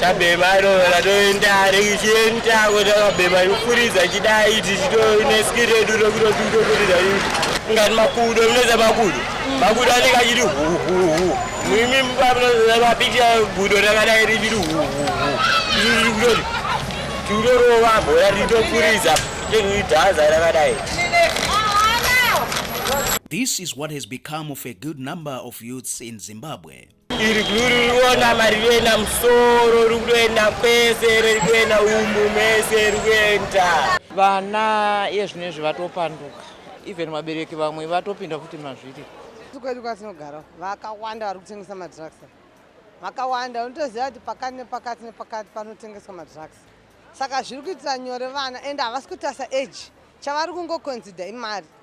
tabhema roora toenda richienda kuti akabhema ikufuridza chidai tichitoine ski redu rokutokutokuridza ngati makudo munoza makudo makudo anenge achiti huhuhu mimi mupamnoza mapicha gudo rakadai richiti huhuhu ichitoti tiutorova bhora ritofuridza tekuidhaza rakadai This is what has become of a good number of youths in Zimbabwe. iri gluririona marivena musoro rikuenda kwese rikuenda umu mese rikuenda vana iye zvino izvi vatopanduka even vabereki vamwe vatopinda futi mazviri kwedu kwatinogara vakawanda vari kutengesa madrugs vakawanda unotoziva kuti pakati nepakati nepakati panotengeswa madrugs saka zviri kuitira nyore vana and havasi kutasa age chavari kungoconsider imari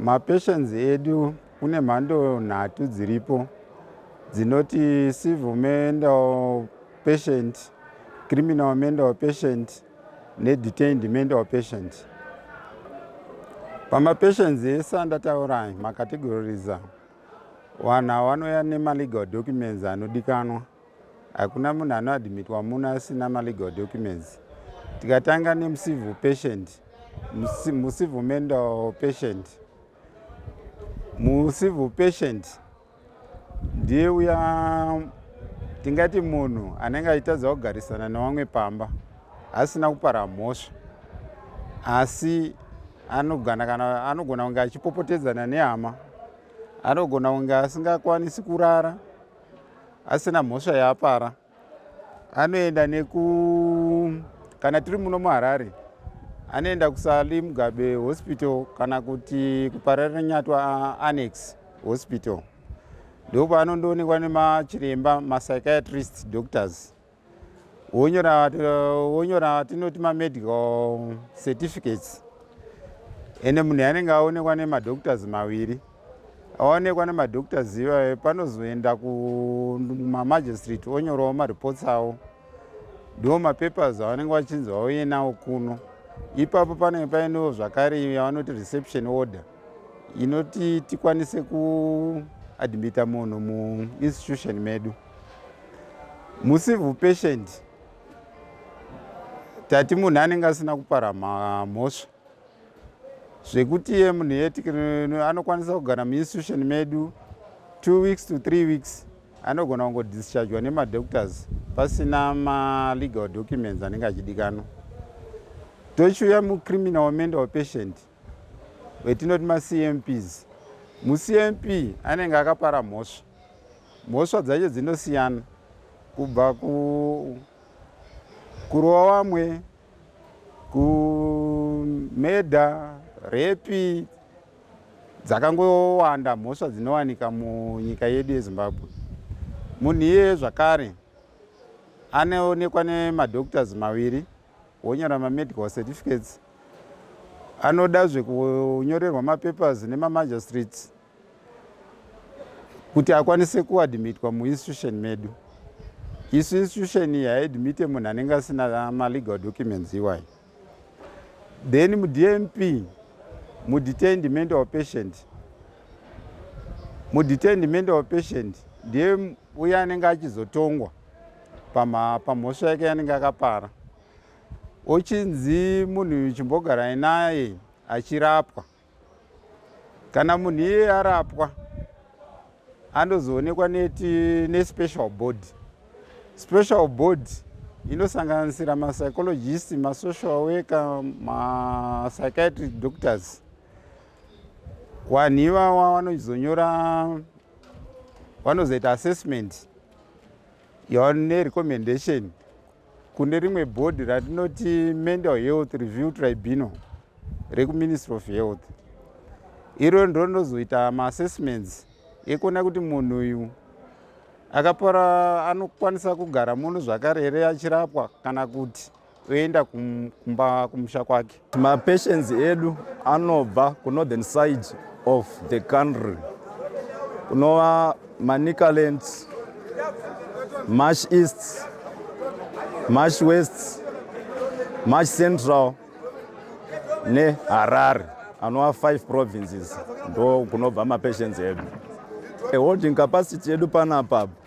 Mapatients edu kune mhando nhatu dziripo dzinoti civil mental patient, criminal mental patient nedetained mental patient. Pamapatients ese andataura makategoriza, vanhu ava vanouya nemalegal documents anodikanwa. Hakuna munhu anoadmitwa muno asina malegal documents. Tikatanga nemucivil patient, mucivil mental patient. Mucivil patient ndiye uya tingati munhu anenge achitadza kugarisana nevamwe pamba asina kupara mhosva asi anogona kana anogona kunge achipopotedzana nehama anogona kunge asingakwanisi kurara asina mhosva yaapara anoenda neku kana tiri muno muharare anoenda kusali mugabe hospital kana kuti kupararanyatwa annex hospital ndopaanondoonekwa nemachiremba mapsychiatrist doctors wonyora wonyora tinoti mamedical certificates ende munhu anenge aonekwa nemadoctors maviri aonekwa nemadoctors ivayo panozoenda kumamagistrate onyorawo mareports avo ndiwo mapapers avanenge vachinzi vauye nawo kuno ipapo panenge painewo zvakare yavanoti reception order inoti tikwanise kuadmita munhu muinstitution medu me mucivil patient tati munhu anenge asina kupara mhosva zvekuti iye munhu yeanokwanisa kugara muinstitution medu two weeks to three weeks anogona kungodischargwa nemadoctors pasina malegal documents anenge achidikanwa tochiuya mucriminal mental patient vetinoti macmps mucmp anenge akapara mhosva mhosva dzacho dzinosiyana kubva kurova vamwe kumedha repi dzakangowanda mhosva dzinowanika munyika yedu yezimbabwe munhu iye zvakare anoonekwa nemadoctors maviri wonyora mamedical certificates anoda zvekunyorerwa mapapers nemamagistrates kuti akwanise kuadmitwa muinstitution medu isu institution iyi haidmite munhu anenge asina malegal documents iwayo then mudmp mudetain demand of patient mudetain demand of patient ndiye uye anenge achizotongwa pamhosva yake yanenge akapara ochinzi munhu uyu chimbogarai naye achirapwa kana munhu iye arapwa anozoonekwa neti nespecial body special body inosanganisira mapsychologist masocial worker mapsychiatric doctors wanhu ivawa vanozonyora vanozoita assessment yone recommendation kune rimwe bhodhi ratinoti mental health review tribunal rekuministry of health iro ndondozoita maassessments ekuona kuti munhu uyu akapora anokwanisa kugara muno zvakare here achirapwa kana kuti oenda kumba kumusha kwake. Mapatients edu anobva kunorthern side of the country kunova Manicaland, Marsh East, Marsh West, Marsh Central neHarare anova five provinces ndo kunobva mapatients edu. A holding capacity yedu panapa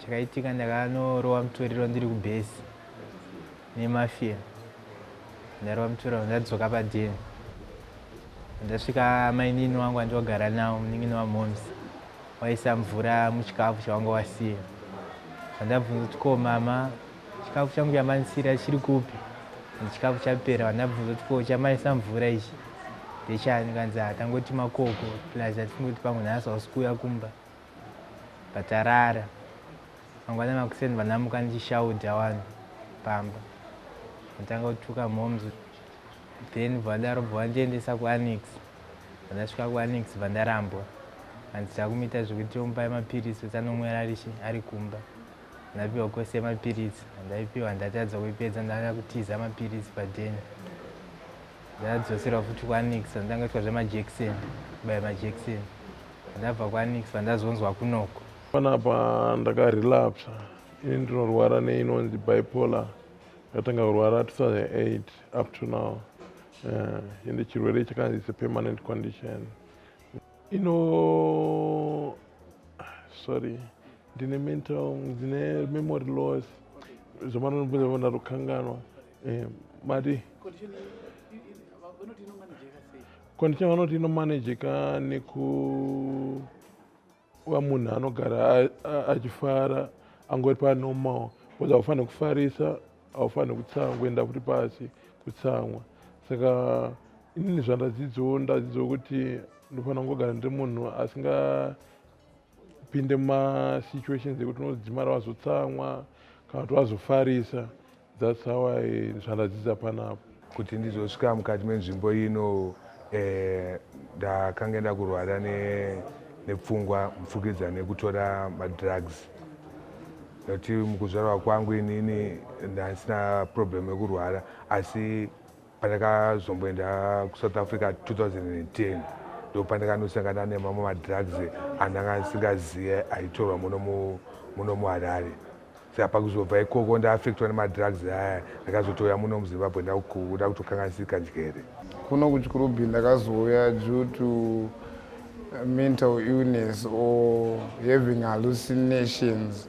chakaitika ndakanorowa mutoriro ndiri kubhesi nemafia ndarova mutoriro ndadzoka padeni ndasvika mainini wangu andiwagara nawo munin'ini wamoms waisa mvura muchikafu chawanga wasiya vandabvunza kuti ko mama chikafu changu chamanisira chiri kupi chikafu chapera vandabvunza kuti ko chamaisa mvura ichi ndechani kanzi hatangoti makoko plus atingoti pamwe nhasi hausi kuuya kumba Patarara mangwana makuseni vanamuka ndichishaudha wani pamba ndotanga kutuka moms then bvadaro bvandiendesa kuanix vandasvika kuanix vandarambwa hanzi takumita zvekuti omupai mapiritsi kuti anomwera ari kumba ndapiwa kwese mapiritsi andaipiwa ndatadza kuipedza ndanga kutiza mapiritsi padheni ndadzoserwa futi kwanix ndanga itwa zvemajection kubaya majection ndabva kwanix vandazonzwa kunoko panapa ndakarelapsa ini ndinorwara neinonzi bipolar ndatanga kurwara 2008 up to now eh, ende uh, chirwere chakanzi is a permanent condition ino sorry ndine mental ndine memory loss zvamanonibvunza vona rukanganwa Eh, mati condition vanoti inomanejeka nekuva munhu anogara achifara angori panormal bcause haufanire kufarisa haufanire kutsamwa kuenda futi pasi kutsamwa saka inini zvandadzidzawo ndadzidzawo kuti ndofanira kungogara ndiri munhu asingapinde mumasituations ekuti unodzimara wazotsamwa kana kuti wazofarisa That's how I zvaradzidza panapa. Kuti ndizosvika mukati menzvimbo ino eh, ndakange ndakurwara ne, nepfungwa mupfukidza nekutora madrugs nekuti mukuzvarwa kwangu inini ndasina problem yekurwara asi pandakazomboenda kusouth africa 2010 ndopandakanosangana nemamwe madrugs andanga ndisingazive aitorwa muno muharare saka pakuzobva ikoko ndaaffectwa nemadrugs aya ndakazotouya muno muzimbabwe ndakuda kutokanganisika njere kuno kuchikurubi ndakazouya due to mental illness or having hallucinations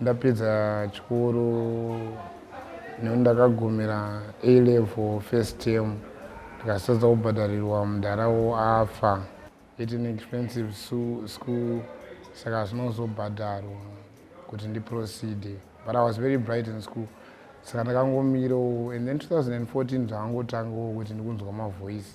Ndapedza chikoro nekuti ndakagumira A level first term ndikasatadza kubhadharirwa mudhara wo afa. It's an expensive school saka zvinozobhadharwa kuti ndi proceed but I was very bright in school saka ndakangomirawo and then 2014 zvakangotangawo kuti ndikunzwa mavoice.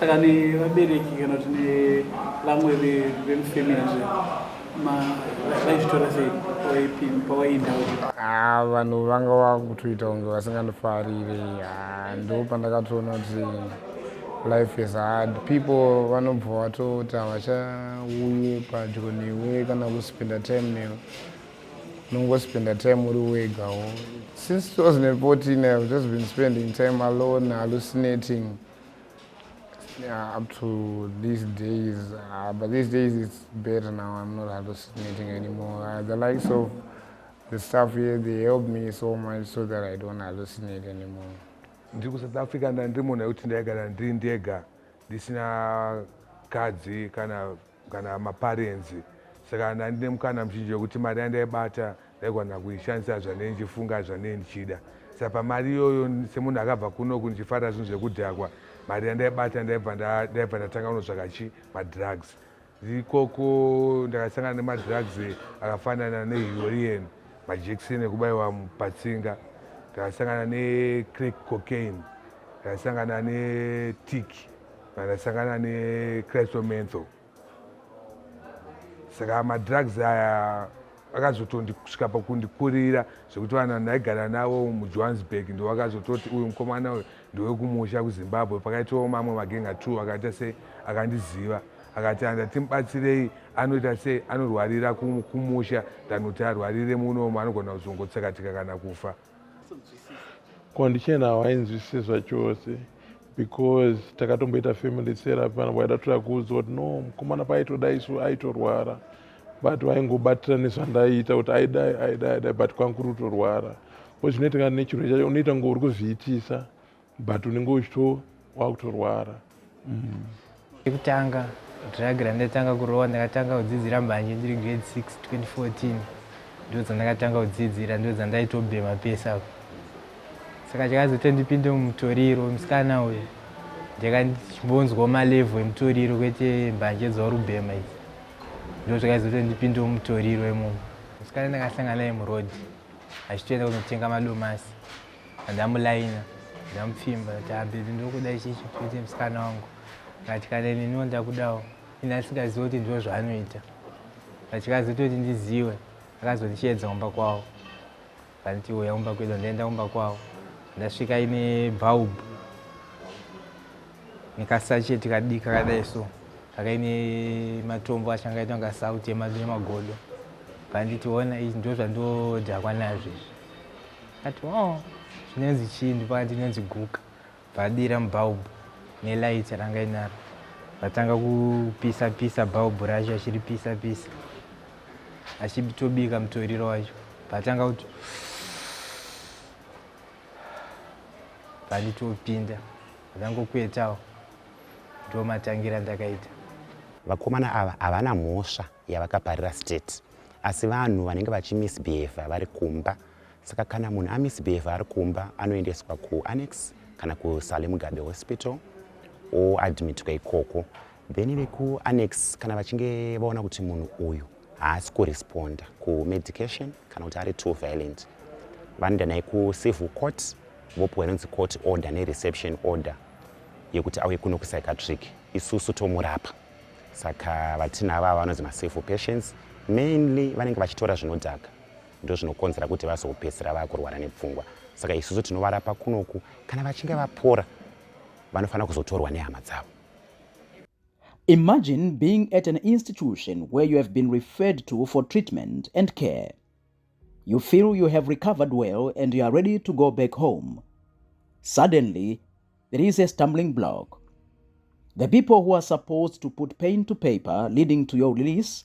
saka nevabereki kana kuti nevamwe vemufamily vaizvitora sei pawaienda ah, vanhu vanga vakutoita kunge vasingandifarire ah, ndo pandakatoona kuti life is hard people vanobva vatoti havachauye padyo newe kana kuspenda time newe unongospenda time uri wegawo since 2014 ihave just been spending time alone hallucinating yeah, up to these days uh, but these days it's better now i'm not hallucinating anymore uh, the likes of the staff here they help me so much so that i don't hallucinate anymore ndiri kusouth africa ndandiri munhu yekuti ndaigara ndiri ndega ndisina kadzi kana kana maparenzi saka ndandine mukana muzhinji wekuti mari yandaibata ndaigona kuishandisa zvanei ndichifunga zvanei ndichida saka pamari iyoyo semunhu akabva kunoku ndichifarira zvinhu zvekudhakwa mari yandaibata ndaibva ndatanga kunotsvaka chi madrugs ikoko ndakasangana nemadrugs akafanana nehurien majekiseni ekubayiwa patsinga ndakasangana necrack cocaine ndakasangana netiki pandasangana necrystomentho saka madrugs aya akazotondisvika pakundikurira zvekuti vanhu vandaigara navo mujohannesburg ndo vakazototi uyu mukomana uyu ndowekumusha kuzimbabwe pakaitawo mamwe magenga t akaita sei akandiziva akati anda timubatsirei anoita sei anorwarira kumusha than kuti arwarire muno maanogona kuzongotsakatika kana kufa condition hawainzwisise zvachose because takatomboita family therapy vanhu vaida toda kuudzwa kuti no mukomana paaitoda isu aitorwara but vaingobatira nezvandaiita kuti aidai aidai aidai but kwanga kuri kutorwara ko zvinoitika nechirwe chacho unoita ngo uri kuzviitisa but unenge uchito wakutorwara mm. ekutanga drug randatanga kurowa ndakatanga kudzidzira mbanje ndiri grade 6 2014 ndo dzandakatanga kudzidzira ndo dzandaitobhema pese apo saka chakazotondipinde mumutoriro musikana uyo ndakambonzwa malevo emutoriro kwete mbanje dzaurubhema idzi ndo zvakazotondipinde mumutoriro imomo musikana ndakasangana naye muroad achitoenda kunotenga madomasi ndamulaina ndamupfimba tabebi ndokuda ichichi kuti musikana wangu ngati kana neniwo ndakudawo ini asingazivi kuti ndiro zvaanoita achikazoita kuti ndiziwe akazondichiedza kumba kwavo vanti uya kumba kwedu ndaenda kumba kwavo ndasvika ine bulb nekasacheti kadiki kakadai so kakaine matombo acho angaita kunga sauti yemagodo vanditi ona izvi ndo zvandodhakwa nazvo izvi Ati oh, zvinonzi chii ndipakati inonzi guka. Vadira mubhaubhu nelight ranga inaro. Vatanga kupisa pisa bhaubhu racho achiripisa pisa. Achitobika mutoriro wacho. Vatanga kuti vanditopinda vangokuetawo ndomatangira ndakaita vakomana ava havana mhosva yavakaparira state asi vanhu vanenge vachimisbehavha vari kumba Saka kana munhu amisbehave ari kumba anoendeswa kuannex kana kusale mugabe hospital oadmitwa ikoko then vekuannex kana vachinge vaona kuti munhu uyu haasi kuresponda kumedication kana kuti ari too violent vanoenda naye kucivil court vopiwa inonzi court order nereception order yekuti auye kuno kupsychiatric isusu tomurapa saka vatinava vanonzi macivil patients mainly vanenge vachitora zvinodhaka ndozvinokonzera kuti vazopedzisira vakurwara nepfungwa saka isusu tinovarapa kunoku kana vachinge vapora vanofanira kuzotorwa nehama dzavo imagine being at an institution where you have been referred to for treatment and care you feel you have recovered well and you are ready to go back home suddenly there is a stumbling block the people who are supposed to put pain to paper leading to your release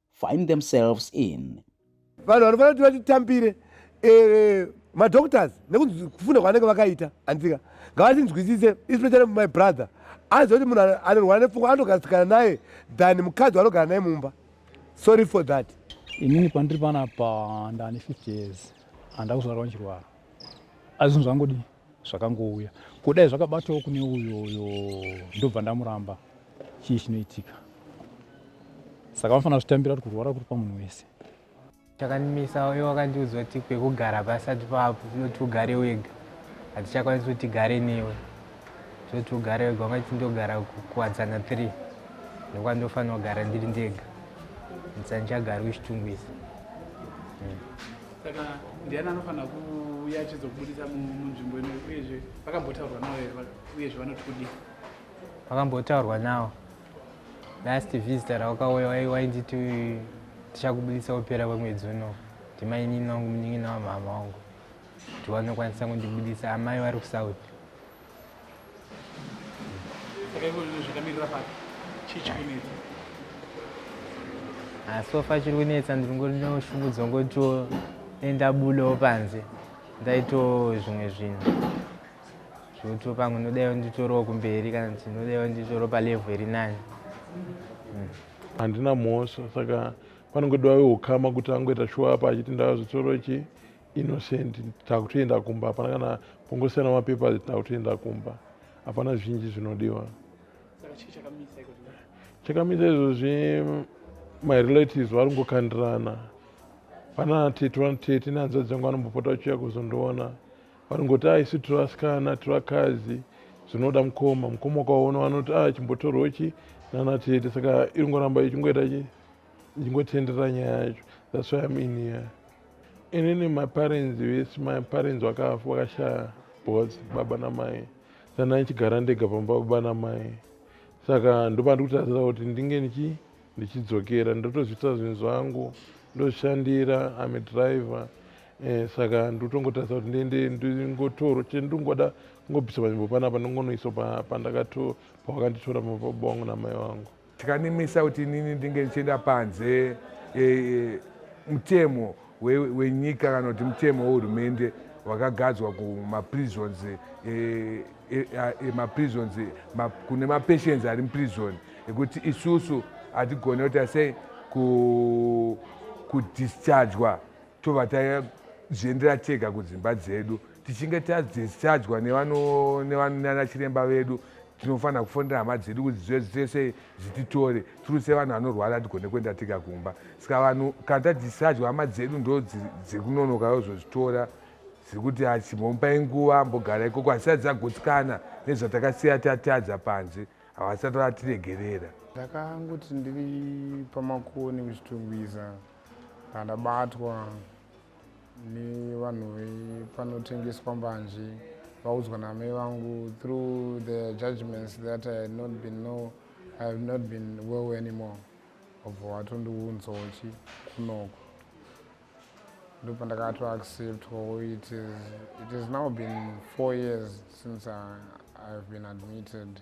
find themselves in vanhu vanofanira kuti vatitambire eh, madoctors nekuti kufunda kwavanenge vakaita anzika ngavatinzwisise especially my brother aziva kuti munhu anorwara nepfungwa anotogarasikana naye than mukadzi wanogara naye mumba sorry for that inini pandiri panapa ndane 50 years handakuzvarwa ndichirwara asi zvinhu zvangodii zvakangouya kudai zvakabatawo kune uyo uyo ndobva ndamuramba chii chinoitika saka vanofanira zvitambira kuti kurwara kuri pamunhu wese chakandimisa uyo wakandiudzwa kuti kwekugara pasati paapo tinoti ugare wega hatichakwanisi kuti tigare newe tinoti ugare wega ungati ndogara kuwadzana three ndokwandofanira kugara ndiri ndega ndisandichagari uchitungwisa hmm. saka ndiani anofanira kuuya achizobudisa munzvimbo ino uyezve vakambotaurwa navo here uyezve vanoti kudii vakambotaurwa navo last visitor rawakauya wainditi tichakubudisa kupera kwemwedzi uno ndimainini wangu munin'ina wamhama wangu kuti vanokwanisa kundibudisa amai vari kusouth asi ofa chiri kunetsa ndiri ngonoshungudzwa ngotoenda bulewo panze ndaito zvimwe zvinhu zvoto pamwe ndodaiwo nditorowo kumberi kana kuti ndodaiwo nditoro palevhu iri nani hmm. handina mhosva saka panongodiwa weukama kuti angoita shuwa apa achiti ndava zvitoro chii innocent takutoenda kumba hapana kana kungosiyana mapapers takutoenda kumba hapana zvinji zvinodiwa chakamisa izvozvi my relatives vari kungokandirana pana tete vana tete nehanzvadzi yangu vanombopota vachiuya kuzondiona vari kungoti a isu tiri vasikana tiri vakadzi zvinoda mukoma mukoma ukaona vanoti a ah, chimbotorwo chi nana tete saka iri ngoramba ichingoita chi ichingotenderera nyaya yacho that's why im in here inini my parents vese my parents vakashaya both baba namai saka ndaichigara ndega pamba baba namai saka ndoba ndikutarisira kuti ndinge ndichi ndichidzokera ndotozviita zvinhu zvangu ndozvishandira am a driver eh, saka ndotongotarisa kuti ndiende ndingotoro chete ndingoda kungobvisa panzvimbo panapa ndingonoisa pandakato pawakanditora mababa wangu namai wangu Tikanimisa kuti inini ndinge ndichienda panze e, e, mutemo wenyika we kana kuti mutemo wehurumende wakagadzwa kumaprisons e, e, e, e, maprisons ma, kune mapatients ari muprison ekuti isusu hatigone kuita sei kudischargwa tobva tazviendera tega kudzimba dzedu tichinge tadischargwa nanachiremba vedu tinofanira kufonera hama dzedu kuti dzese dzititore tiri sevanhu vanorwara hatigone kuenda tega kumba saka vanhu kana tadischargwa hama dzedu ndo dziri kunonoka yozozvitora dziri kuti achimbomupai nguva mbogara ikoko hasisati dzagutsikana nezvatakasiya tatadza panze havasati vatiregerera ndakangoti ndiri pamakoni kuchitungwiza andabatwa nevanhu vepanotengeswa mbanje vaudzwa namai vangu through the judgments that i had not been know i have not been well anymore obva watondiunzochi kunoko ndopandakato accept or it is, it is now been four years since I, i've been admitted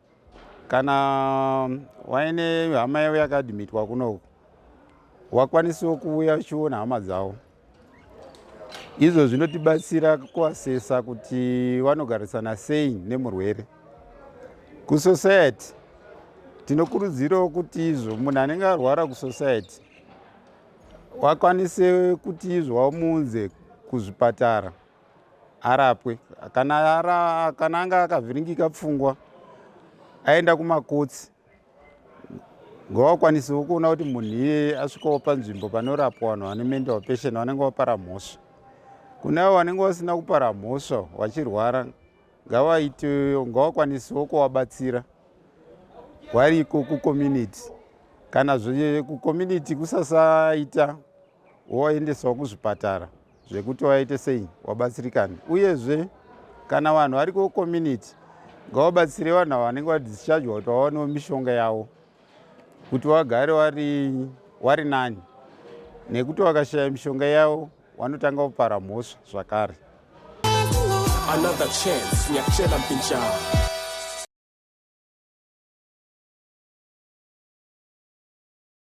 kana um, waine hama yavo yakadhimitwa kunoku wakwanisawo kuuya uchiona hama dzavo izvo zvinotibatsira kuasesa kuti vanogarisana sei nemurwere kusociety tinokurudzirawo kuti izvo munhu anenge arwara kusociety wakwanise kuti izvo wamuunze kuzvipatara arapwe kana, ara, kana anga akavhiringika pfungwa aenda kumakotsi ngavakwanisewo kuona kuti munhu iyeye asvikawo panzvimbo panorapwa vanhu vane mental patient vanenge vapara mhosva kune avo vanenge vasina kupara mhosva vachirwara ngavaitewo ngavakwanisewo kuvabatsira variko kucommunity kana zve kucommunity kusasaita woendeswa kuzvipatara zvekuti waite sei wabatsirikana uyezve kana vanhu vari kucommunity ngavabatsire vanhu ava vanenge vadischargwa kuti vawanewo mishonga yavo kuti vagare wari nani nekuti vakashaya mishonga yavo vanotanga kupara mhosva zvakare another chance nyakuchela mpinjaa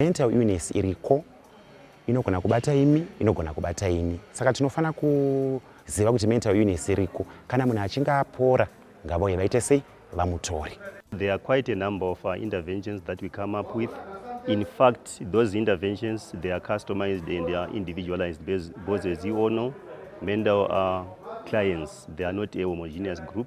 Mental illness iriko inogona kubata imi inogona kubata ini saka tinofanira kuziva kuti mental illness iriko kana munhu achinge apora ngavauye vaite sei vamutori There are quite a number of uh, interventions that we come up with. In fact, those interventions, they are customized and they are individualized because as you all know, mental uh, clients, they are not a homogeneous group.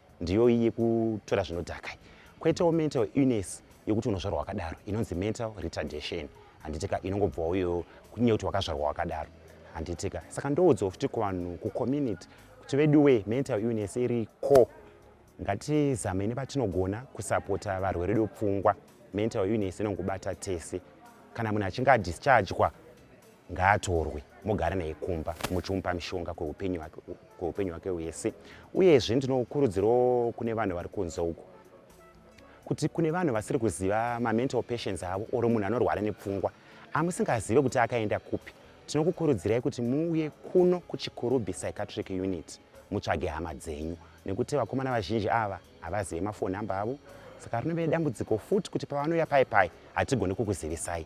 ndiyo iyi yekutora zvinodhaka kwoitawo mental illness yekuti unozvarwa wakadaro inonzi mental retardation handitika inongobva uyo kunye kuti wakazvarwa wakadaro handitika saka ndoudzwa futi kuvanhu kucommunity kuti veduwe mental illness iri ko ngatizamei nepatinogona kusapota varwere vedu pfungwa mental illness inongobata tese kana munhu achinge adischargwa ngaatorwe mugare naye kumba muchimupa mishonga kweupenyu hwake hwese uyezve ndinokurudzirawo kune vanhu vari kunze uko kuti kune vanhu vasiri kuziva mamental patients avo or munhu anorwara nepfungwa amusingazive kuti akaenda kupi tinokukurudzirai kuti muuye kuno kuchikurubhi psychiatric unit mutsvage hama dzenyu nekuti vakomana vazhinji ava havazive mafoni number avo saka rinove dambudziko futi kuti pavanouya pai pai hatigoni kukuzivisai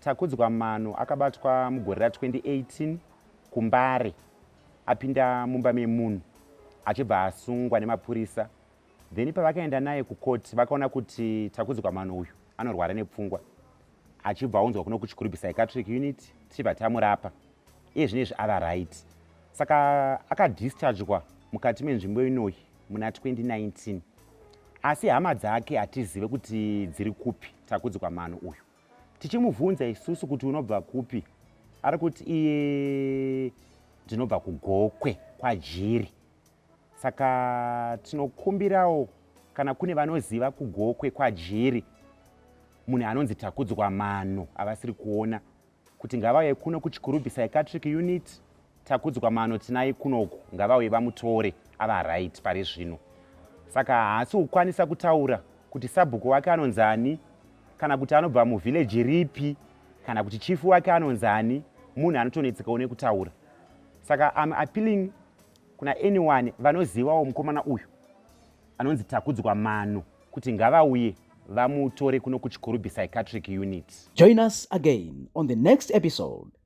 Takudzwa Mano akabatwa mugore ra 2018 kuMbare apinda mumba memunhu achibva asungwa nemapurisa then pavakaenda naye kukoti vakaona kuti Takudzwa Mano uyu anorwara nepfungwa achibva aunzwa kuno kuChikurubi Psychiatric Unit tichibva tamurapa iye zvine izvi ava right saka akadischargwa mukati menzvimbo inoyi muna 2019 asi hama dzake hatizive kuti dziri kupi Takudzwa Mano uyu tichimubvunza isusu kuti unobva kupi ari kuti iye ndinobva kugokwe kwajiri saka tinokumbirawo kana kune vanoziva kugokwe kwajiri munhu anonzi takudzwa mano avasiri kuona kuti ngavauye kuno kuchikurubhisa ecatric unit Takudzwa mano tinai kunoku ngavauye vamutore ava right pari zvino. Saka haasi kukwanisa kutaura kuti sabhuku wake anonzi ani kana kuti anobva muvhileji ripi kana kuti chifu wake anonzi ani munhu anotonetsekawo nekutaura. Saka am appealing kuna anyone vanozivawo mukomana uyu anonzi Takudzwa mano kuti ngavauye vamutore kuno kuchikurubi psychiatric unit. Join us again on the next episode.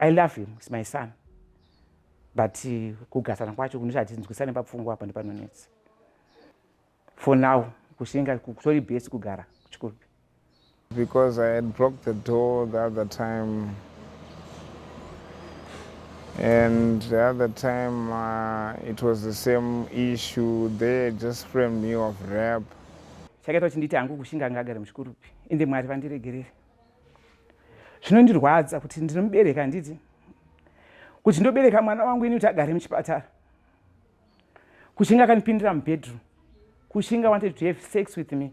I love him, he's my son. But uh, kugasana kwacho kunoita kuti tinzwisane papfungwa apa ndipanonetsa. For now, kushinga kutori best kugara kuchikuru. Because I had broke the door the other time. And the other time uh, it was the same issue. They just framed me of rape. Chakaita kuti nditi hangu kushinga ngagare muchikurupi. Ende Mwari vandiregerere. zvinondirwadza kuti ndinomubereka handiti kuti ndobereka mwana wangu ini kuti agare muchipatara kushinga akanipindira mubedroom kushinga wanted to have sex with me